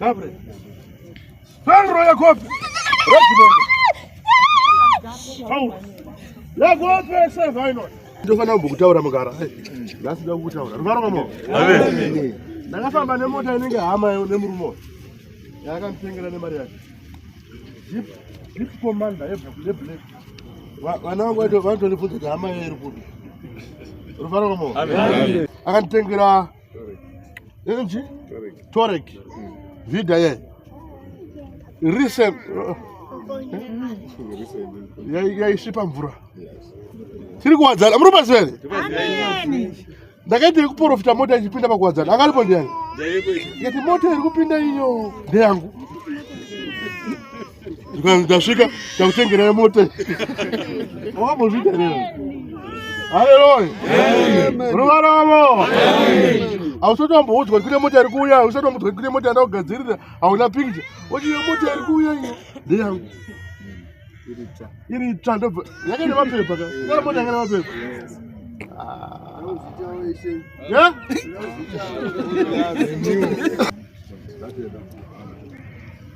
Gabre. Fangro Yakope. Rosibongo. Fangro. Yakope Sevaino. Ndofana mbukutaura mugara. Ndasida kukutaura. Ruvaro kamo. Amen. Ndakafamba nemota inenge hama nemurume uyu. Yakamutengera nemari yake. Jeep Jeep Commander yeblack. Vana vangu vacho vanotondibvunza kuti hama yairi kupi. Ruvaro kamo. Amen. Akanditengera inji torek vida ye yaisvipa mvura tiri kuwadzana muri pasi vere ndakaita yekuprofita mota ichipinda pakuwadzana angalipo ndiani yati mota iri kupinda iyo ndeyangu ndasvika takutengerai mota awambozvita rero haleluya ruvaravo ausatomboudzwa kune mota iri kuuya ausatomboudzwa kune mota yanda kugadzirira hauna pikcha ochiyo mota iri kuuya iyo ndeyangu iri itsva ndobva yake nemapepa ka kana mota yake nemapepa Yeah?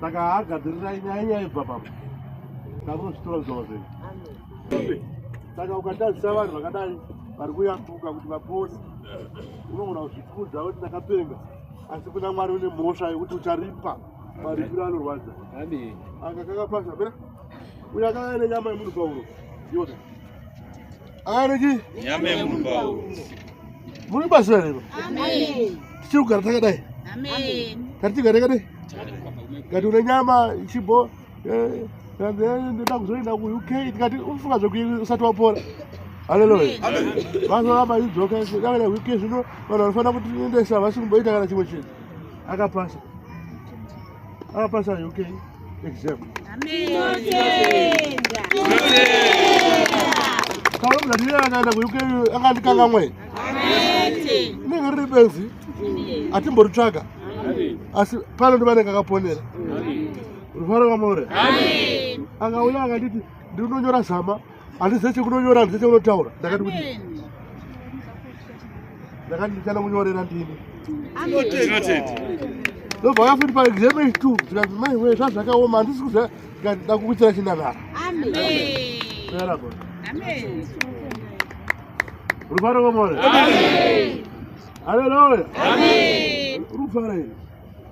saka haagadzirirai nyaya nyaya ibva papa takunozvitonzwa zve saka ukatazisa vanhu vakadai vari kuyambuka kuti vapone unogona kuzvikudza kuti ndakapenga asi kuna mwari une mhosva yekuti ucharipa maripiro anorwadza anga kakapasa pera uyo akava nenyama yemunhu pauro iwona Ariki. Nyame mumbawo. Muri basa here? Amen. Tichiri kugara takadai. Amen. Tati tigare kade. Ngati une nyama ichibo eh ndoda kuzoenda ku UK tikati ufunga zvokuti usati wapora. Hallelujah. Amen. Vanhu vaba idzoka zvakadai UK zvino vanhu vanofanira kuti ndesa vasimboita kana chimwe chinhu. akapasa akapasa uk exam kaona kuti ndiri akaenda kuuk akandikangamwe inenge riri benzi atimboritsvaga asi pano ndivanenge akaponera rufaro kwamore akauya akanditi ndinonyora zama handizive chekunonyora handizive chekunotaura ndakati kuti ndakati ndichana kunyorera ndini ndobva yafuti paexamen two tikati mai wee zvazvakaoma handisi kuza tikati ndakukuitira chinanara rufaro komore haleluya rufaro iri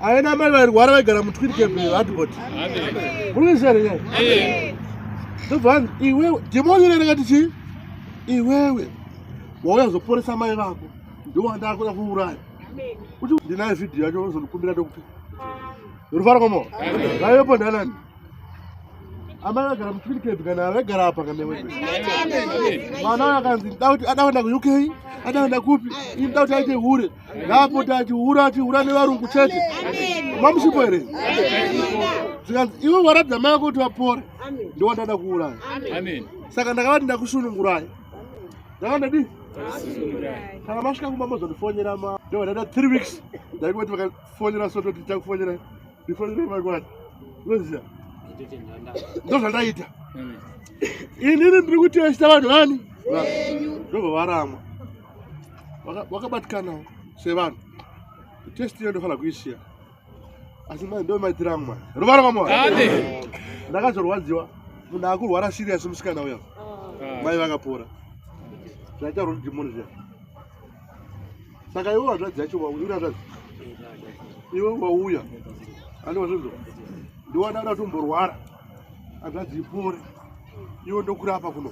ave namai vairwara vaigara mutwirikebadbot murisere ndobvan iwewe dhimoni rerekati chii iwewe wauya kuzoporesa mai vako ndowandaakuda kuuraya kuti ndinayo vhidhiyo yacho ozondikumbira ndokupi rufaro komo vaivepo ndanani amai vagara mutwirikebhi kana vaigara apa kanewe mwana akanzi ada kuenda kuuk ada kuenda kupi ini da kuti aite hure ngaapota achihura achihura nevarungu chete mamushipo here zvikanzi iwe waratidza mai vako kuti vapore ndiwandada kuuraya saka ndakavati ndakusunungurai ndakandadii kana masvika kumba mozondifonyera ma ndovadaita three weeks ndaikoti vakafonyera so toti takufonyera ndifonyere makwati unoziva ndozvandaita inini ndiri kutesta vanhu vani ndobva varamwa wakabatikanawo sevanhu testi iyo ndofanira kuisiya asi mai ndo maitira amwe mwana ruvara kwamwana ndakazorwadziwa munhu akurwara sirius musikana uya ah. mai vakapora zvaita rudimoni zviya saka iwe wazvadzi yacho waurazvadzi iwe wauya andiwazvinzo ndiwada da tumborwara azvadzipore iwe ndokurapa kuno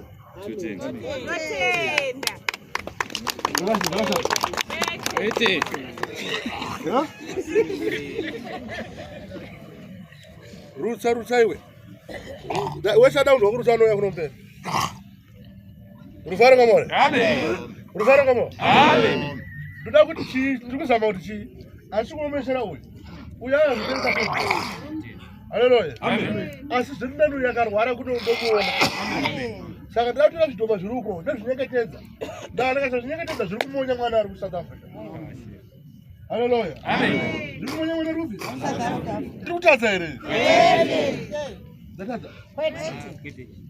rutsa rutsa iwe wesada unhu wakurutsa anoya kunombera Rufaro kamore. Amen. Rufaro kamore. Amen. Ndoda kuti chii? Tiri kuzama kuti chii? Asi kuomesera uyu. Uya anozviteresa kuti. Haleluya. Amen. Asi zviri ndani uyu akarwara kuti ndokuona. Amen. Saka ndoda kutora zvidhoma zviri uko ndozvinyeketedza. Ndana kasa zvinyeketedza zviri kumonya mwana ari kuSouth Africa. Haleluya. Amen. Zviri kumonya mwana rupi? Tiri kutadza here? Ndatadza. Kwete.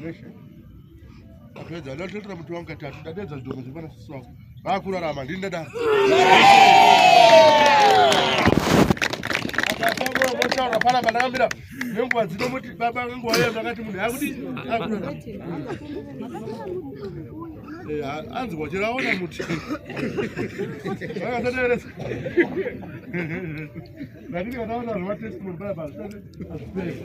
Meshe. Apedza ndatotera muti wangu katatu ndadedza zvidhoko zviri pana sisi wangu. Vakurarama ndini ndadaro. Akataura pana manamira nenguva dzino muti baba nenguva iyo ndakati munhu yakuti akurarama. Anzi kwachera aona muti. Akasateresa. Lakini kataona zvatestimony baba. Azipesa.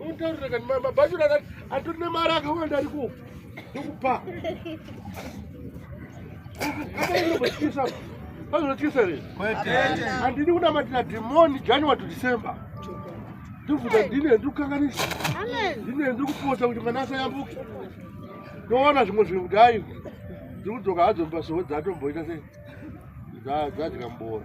Untaurira kani mama bhachu rakati atori nemari akawanda ari kupa. Ndokupa. Akainobotyisa. Anotyisa here? Handidi kunamatira dhimoni January to December. Ndobvunza ndine ndiri kukanganisa. Ndine ndiri kupota kuti mwana asayambuke. Ndoona zvimwe zvinhu kuti hayi. Dziri kudzoka hadzo mupasowo dzatomboita sei? Dzadya mbora.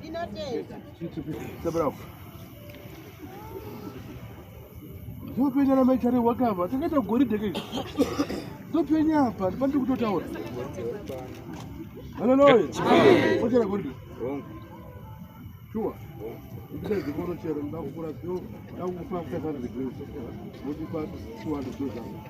Ndinotenda. Ndopenya na maichari wakava. Takaita goridhe ke. Ndopenya apa, pandi kutotaura. Hallelujah. Amen. Ochera goridhe. Wrong. Sure. Ndikazi kono chero ndakukura sio, ndakupa kutakana zigwinso. Moti pa 200,000.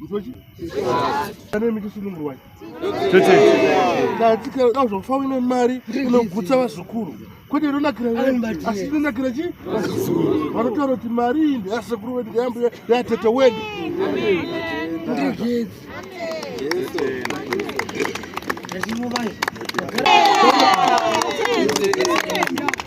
Mtochi? Kane miki sunungu wai? Tete. Na tika na zvofa wine mari inogutsa vazukuru. Kwete inonakira wani asi inonakira chi? Vazukuru. Vanotaura kuti mari iyi ndeyasekuru wedu ndeyambuya ndeyatete wedu. Ndizvezi. Ndizvezi.